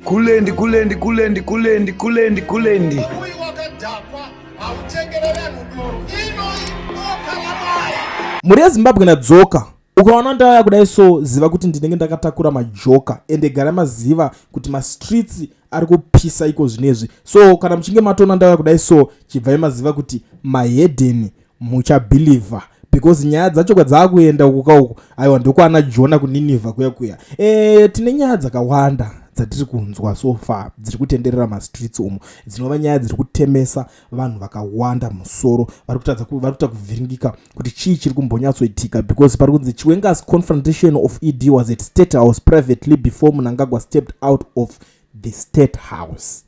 Kulendi kulendi kulendi kulendi kulendi kulendi. Uyu wakadhakwa hautengere vanhu doro. Ino iboka ramai. Mhuri yeZimbabwe nadzoka. Ukaona ndauya kudai so ziva kuti ndinenge ndakatakura majoka ende gara maziva kuti mastreets ari kupisa iko zvinezvi. So kana muchinge matoona ndauya kudai so chibvai maziva kuti mahedeni muchabhilivha because nyaya dzacho kwadzakuenda uku ka uku aiwa ndokwana jona kuninivha kuya kuya e, tine nyaya dzakawanda dzatiri kunzwa so far dziri kutenderera mastreets umo dzinova nyaya dziri kutemesa vanhu vakawanda musoro vari kutadza vari kuita kuvhiringika kuti chii chiri kumbonyatsoitika because pari kunzi chiwengas confrontation of ed was at state house privately before munangagwa stepped out of the state house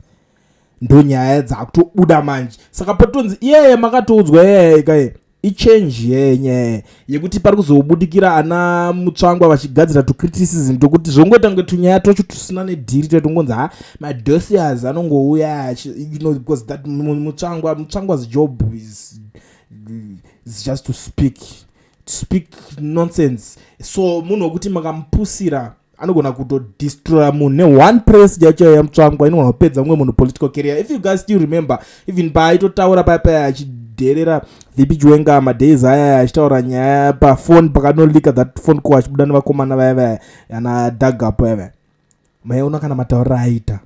ndonyaya dzakutobuda manje saka potonzi iyeye makatoudzwa iyeye kaye ichange yenye yekuti pari kuzobudikira ana mutsvangwa vachigadzira tucriticism tokuti zvongoita kunge tunyaya twacho tusina nedhiri toita kungonzi ha madosias anongouya you know because that mutsvangwa mutsvangwa's job is, is just to speak to speak nonsense so munhu wekuti makamupusira anogona kutodestroya munhu neone press yacho yaiya mutsvangwa inogona kupedza mumwe munhu political carrier if you guys still remember even paaitotaura paya paya achidherera vipi chiwenga madays aya achitaura nyaya pafone pakanolika that phone call achibuda nevakomana vaya vaya ana dagapo yave maiona kana mataurira aita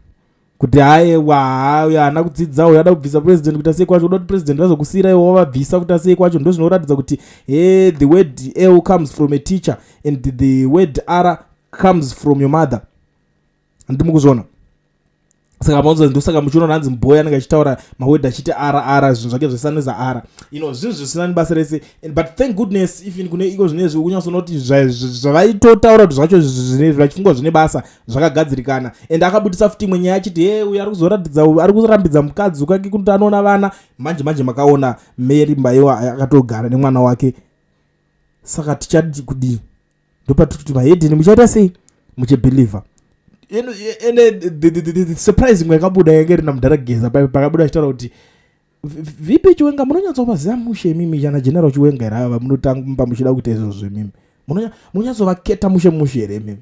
kuti haewa haa uyo haana kudzidza uyo ada kubvisa president kuita sei kwacho uda kuti president vazokusiyira iwo wavabvisa kuita sei kwacho ndo zvinoratidza kuti he the word l comes from a teacher and the word r comes from your mother ndimukuzviona saka maunza ndosaka muchiona hanzi mboya anenge achitaura mawedha achiti ara ara zvinhu zvake zvesaneza ara you know zvinhu zvisina nibasa rese but thank goodness even kune iko zvine zvi ukunyasoona kuti zvavaitotaura kuti zvacho vachifungwa zvine basa zvakagadzirikana and akabudisa futi imwe nyaya achiti he uyo ari kuzoratidza ari kurambidza mukadzi ukake kuti anoona vana manje manje makaona mary mbaiwa akatogara nemwana wake saka tichadi kudii ndopatiri kuti mahedheni muchaita sei muchibhilivha ende surprise imwe yakabuda yange rina mudhara geza pakabuda achitaura kuti vipi chiwenga munonyatsovaziva mushe imimi chana general chiwenga here ava munotamba muchida kuita izvozvo imimi munonyatsovaketa mushe mushe here imimi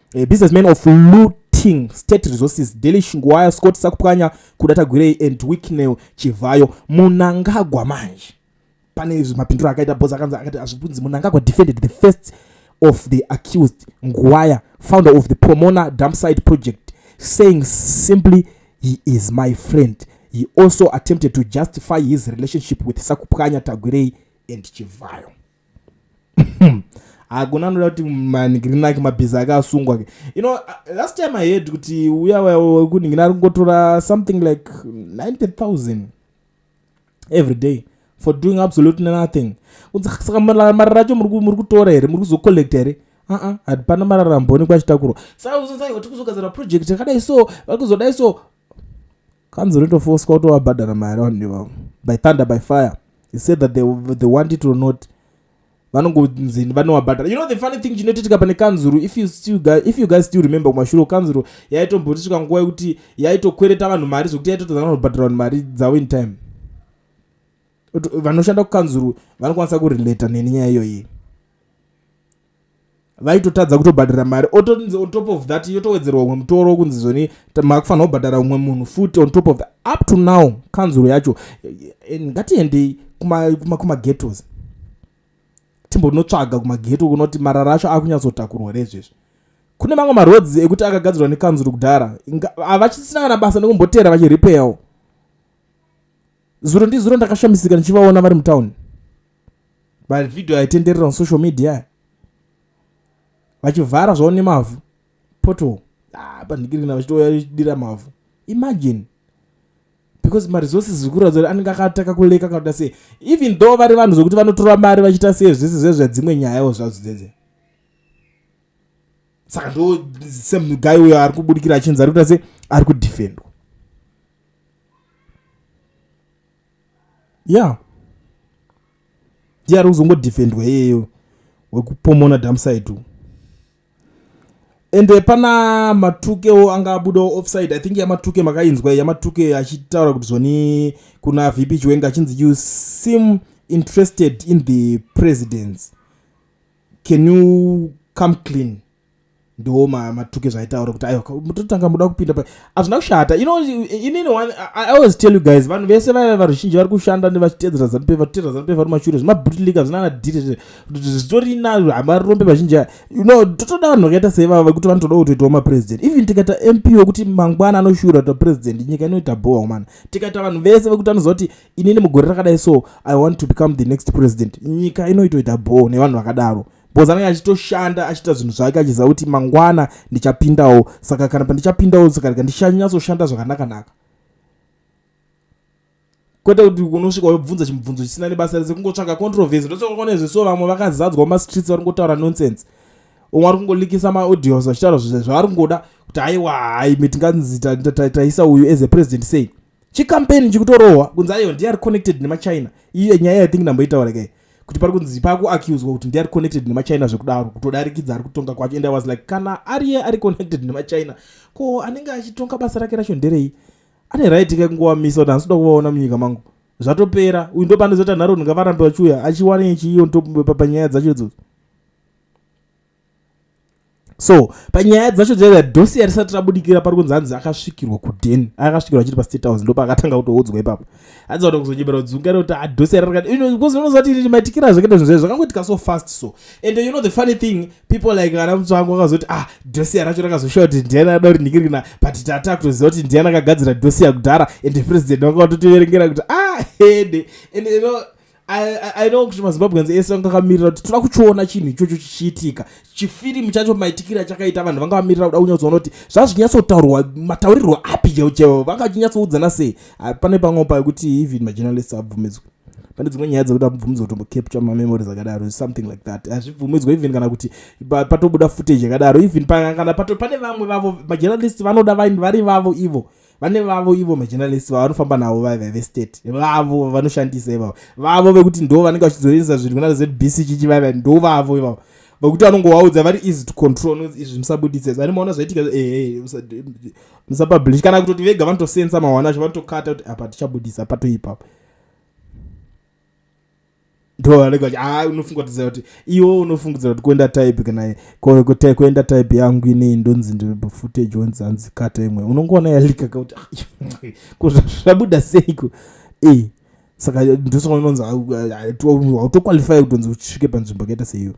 A businessman of looting state resources daily shingwaya scott sakupwanya kuda tagwirei and wicknel chivhayo munangagwa manje pane mapindiro akaita bos akanzi akati azvibunzi munangagwa defended the first of the accused ngwaya founder of the pomona dumpside project saying simply he is my friend he also attempted to justify his relationship with sakupwanya tagwirei and chivhayo hakuna anoda kuti manhigirinaki mabhizi ake asungwa ke you know uh, last time i heard kuti uya wekunhingina ari kungotora something like 90000 every day for doing absolutely nothing kunzi saka mari racho muri kutora here muri kuzocollect here aa hapana mari aramboonekwa achitakurwa saka uzonzai kuti kuzogadzira project yakadai so vakuzodai so kanzi unotofoswa utovabhadhara mari vanhu nevavo by thunder by fire he said that they, they want it or not vanongonzi vanovabhadhara you know the funny thing chinotitika pane kanzuru if you, still, if you guys still remember kumashure kanzuru yaitombotisvika nguva yekuti yaitokwereta vanhu mari zvekuti yaitotadza vanobhadhara vanhu mari dzavo in time vanoshanda kukanzuru vanokwanisa kurelata neni nyaya iyoyi vaitotadza kutobhadhara mari otonzi on top of that yotowedzerwa umwe mutoro wokunzi zoni makufanira kubhadhara umwe munhu futi on top of that up to now kanzuro yacho eh, ngatiendei kumagetos timbonotsvaga kumageto kunoti marara acho akunyatsotakurwa rezvezvi kune mamwe maroads ekuti akagadzirwa nekanzuro kudhara avachisina kana basa nekumboteera vachirepeyawo zuro ndizuro ndakashamisika ndichivaona vari mutown mavideo aitenderera on social media vachivhara zvavo nemavhu poto ah, pandikirina vachitouya vachidira mavhu imagine because maresources ziri kuratidza kuti anenge akataka kuleka kana kuita sei even though vari vanhu zvokuti vanotora mari vachiita sei zvese zve zvedzimwe nyayawo zvadzo dzedze saka ndo same guy uyo ari kubudikira achinzi ari kuita sei ari kudefendwa ya ndiye ari kuzongodefendwa iyeyo wekupomona damside ende pana matukewo anga abudawo offside i think yamatuke makainzwa yamatuke achitaura kuti zvoni kuna vp chiwenga achinzi you seem interested in the presidents can you come clean ndiwo matuki zvaitaura kuti aiwa mototanga muda kupinda pa hazvina kushata you know inini one i always tell you guys vanhu vese vaiva varuzhinji vari kushanda nevachiteedzera zanupefa kuteedzera zanupefa vari mashure zvemabutlika zvinana diri zvitori na hamarombe vazhinji aya you know totoda vanhu vakaita seivava vekuti vanotoda kutoitawo mapresident even tikaita mp wekuti mangwana anoshura kuita president nyika inoita bhowa kumana tikaita vanhu vese vekuti anoziva kuti inini mugore rakadai so i want to become the next president nyika inoitoita bhowa nevanhu vakadaro bcoz anenge achitoshanda achiita zvinhu zvake achiziva kuti mangwana ndichapindawo saka kana pandichapindawo sakarega ndichanyasoshanda zvakanakanaka kwete kuti unosvika wobvunza chimubvunzo chisina nebasa rese kungotsvaga controversy ndosokaone zveso vamwe vakazadzwa mumastreets vari kungotaura nonsense umwe ari kungolikisa maaudios vachitaura zvavari kungoda kuti haiwa haimi tinganzi taisa uyu as a president sei chikampeni chikutorohwa kunzi ayo ndiye ari connected nemachina iye nyaya yai think ndamboitaura kai kuti pari kunzi pakuaccuswa kuti ndiye ari connected nemachina zvekudaro kutodarikidza ari kutonga kwacho and i was like kana ariye ari connected nemachina ko anenge achitonga basa rake racho nderei ane right kai kungowamisa kuti handisi kuda kuvaona munyika mangu zvatopera uyu ndopandizoti anharo ndingavarambe vachiuya achiwane chiiyo ndopapanyaya dzacho idzodzo so panyaya dzacho chaiva dosi yarisati rabudikira pari kunzi hanzi akasvikirwa kuden akasvikirwa achiri pastate house ndopa akatanga kutoudzwa ipapo hanzi vada kuzonyebera kudzungara kuti adosi ah, yararikatbecauseunozati maitikira zvakaita zvinhu zvayo zvakangoitika so fast so and you know the funny thing people like ana mutsvangu vakazoti ah dosi yaracho rakazoshowa kuti ndiani ada kuti ndikirina but tata kutoziva kuti ndiani akagadzira dosi yakudhara and president vanga vatotiverengera kuti ah hede and you know aino kuti mazimbabweans ese vanga vakamirira kuti toda kuchiona chinhu ichocho chichiitika chifirimu chacho maitikira chakaita vanhu vanga vamirira kuda kunyatsoona kuti zvazvinyatsotaurwa mataurirwo api cheo cheo vanga vachinyatsouddzana sei ah, pane pamwe pa yekuti even majournalist abvumidzwe pane dzimwe nyaya dzekuti abvumidzwa kutombo capture mamemories akadaro something like that hazvibvumidzwa even kana kuti patobuda footage yakadaro even kana pane vamwe vavo majournalist vanoda vari vavo ivo vane vavo ivo majournalist vavo vanofamba navo vaiva vestate vavo vanoshandisa ivavo vavo vekuti ndo vanenge vachizoenza zvinhu kuna zbc chichi vaiva ndo vavo ivavo vekuti vanongovaudza vari easy to control izvi musabuditse zani maona zvaitika eh, eh, musapublish kana kutoti vega vanotosensa mawana acho vanotokata kuti apa tichabudisa patoipapo ndoanenge achi haa ah, unofungatidza kuti iwo unofungidzira kuti kuenda type kana kuenda type yangu inei ndonzi ndifootage onzi hanzi kata imwe unongoona yalika kakuti ah, zvabuda seiko e saka ndosaka unonzi hautoqualify kutonzi usvike panzvimbo akaita seiyo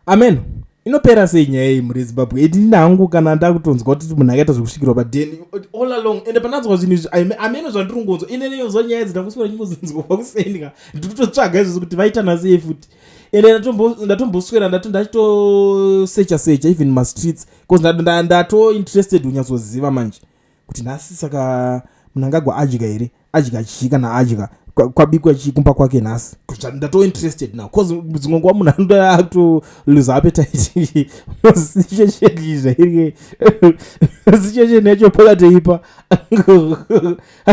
amen inopera sei nyaya iyi muri zimbabwe edi ndini hangu kana ndakutonzwa kuti munhu akaita zvekusvikirwa padeni all along ende pananzwa zvinhu izvi ameno zvandiri kungonzwa ine neyonzwa nyaya idzi ndakuswira chingozinzwa kwakusendika ndiri kutotsvaga izvozvo kuti vaitana sei futi ende ndatomboswera ndato ndachitosecha secha even mastreets bcause ndatointerested unyatsoziva manje kuti nhasi saka munangagwa adya here adya chii kana adya kwabikwa chii kumba kwake nhasi ndatoo interested now bcause dzimwe nguva munhu anoda akutoluza apetite zichecheni zvairike zichecheni yacho pakateipa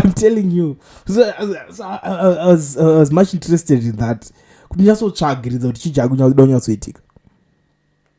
im telling you so, so, I was, I was much interested in that kuti nyatsotsvagiridza kuti chii chaakudonyatsoitika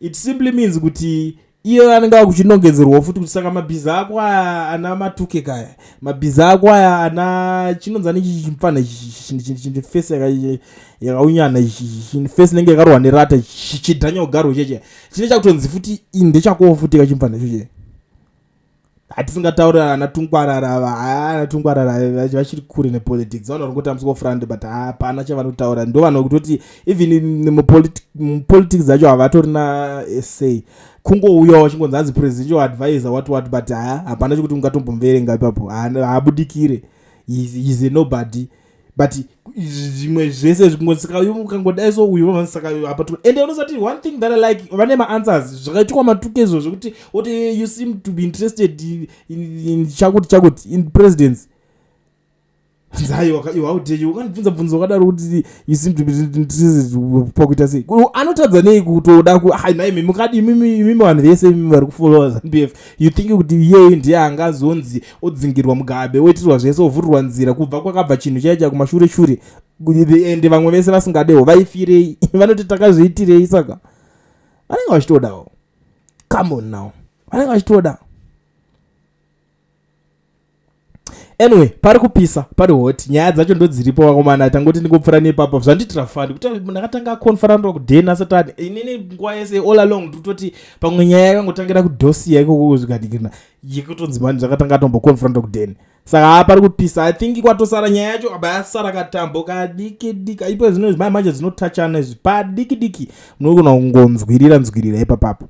it simply means kuti iye anenge akuchinongedzerwawo futi kuti saka mabhiza ako aya ana matuke kaya mabhiza ako aya ana chinonzani ichi chimfana chifesi yakaunyana chifesi inenge yakarohwa nerata chidhanya ugarwo cheche chine chakutonzi futi indechakowo futi kachimfana chochee hatisingataure ana tungwarara ava haa ana tungwarara vachiri kure nepolitics vanoona kuti amusiko front but hapana chavanotaura ndo vanhu kutoti even mupolitics dzacho havatorina essay kungouya wachingonzi anzi presidential advisor what what but haa hapana chekuti ungatombomverenga ipapo haabudikire is a nobody but zvimwe zvese zvikungosikaukangodai so uyu vanosaka apa tu ende unosati one thing that i like vane maanswers zvakaitikwa matuke izvo zvekuti oti you seem to be interested in chakuti chakuti in presidence nzaiwaudeyi wakandibvunza bvunza wakadaro kuti you seem to be interested pakuita sei anotadza nei kutoda ku hai nhai mimi kadi imimi vanhu vese imimi vari kufollowa zanu bf you think kuti iyeyu ndiye angazonzi odzingirwa mugabe oitirwa zvese ovhurirwa nzira kubva kwakabva chinhu chaiya chaya kumashure shure ende vamwe vese vasingadewo vaifirei vanoti takazviitirei saka vanenge vachitodawo come on now vanenge vachitoda anyway pari kupisa pari hot nyaya dzacho ndodziripo vakomana tangoti ndingopfura nepapa zvandiitira fani kuti ndakatanga akonfaranira kuden asati ati inini nguva yese all along ndikutoti pamwe nyaya yakangotangira kudosia ikoko kuzvikadikirina yekutonzi mani zvakatanga atomboconfronta kudeni saka haa pari kupisa i think kwatosara nyaya yacho aba yasara katambo kadiki diki aipo zvino zvimai manje dzinotachana izvi padiki diki munogona kungonzwirira nzwirira ipapapo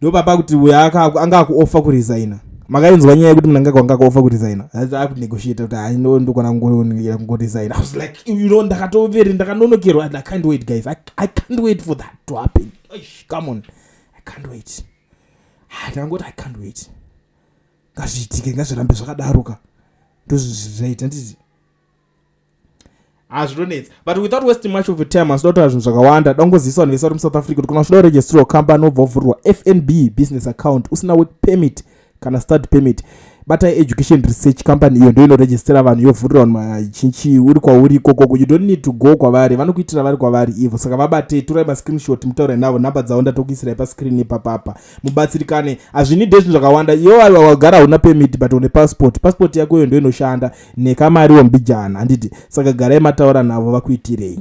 ndopapa kuti uyo anga akuofa kuresigna makainzwa nyaya yekuti munangaka wanga akaofa kuresigna akunegotiate kuti hai no ndokona kungoresigna was like you know ndakatoveri ndakanonokerwa i can't wait guys i can't wait for that to happen come on i can't wait ah, ndangoti i can't wait ngazviitike ngazvirambe zvakadaro ka ndozvizvaita nditi hazvinonetsa ah, but without wasting much of time asi dotaura zvinhu zvakawanda dangozivisa vanhu vese vari musouth africa kuti kana uchida kuregistrira company obva uvhurirwa fnb business account usina work permit kana start permit batai education research company iyo ndo inoregistera vanhu yovhurira vanhu machinchi uri kwauri ikokoko you don't need to go kwavari vanokuitira vari kwavari ivo saka vabatei torai mascreenshot mutaure navo nhamba dzavo ndatokuisirai pascreen ipapapa mubatsirikane hazvinide zvinhu zvakawanda iyo aiwa wagara hauna pemit but une passport passport yako iyo ndo inoshanda nekamari wombijana handiti saka garai mataura navo vakuitirei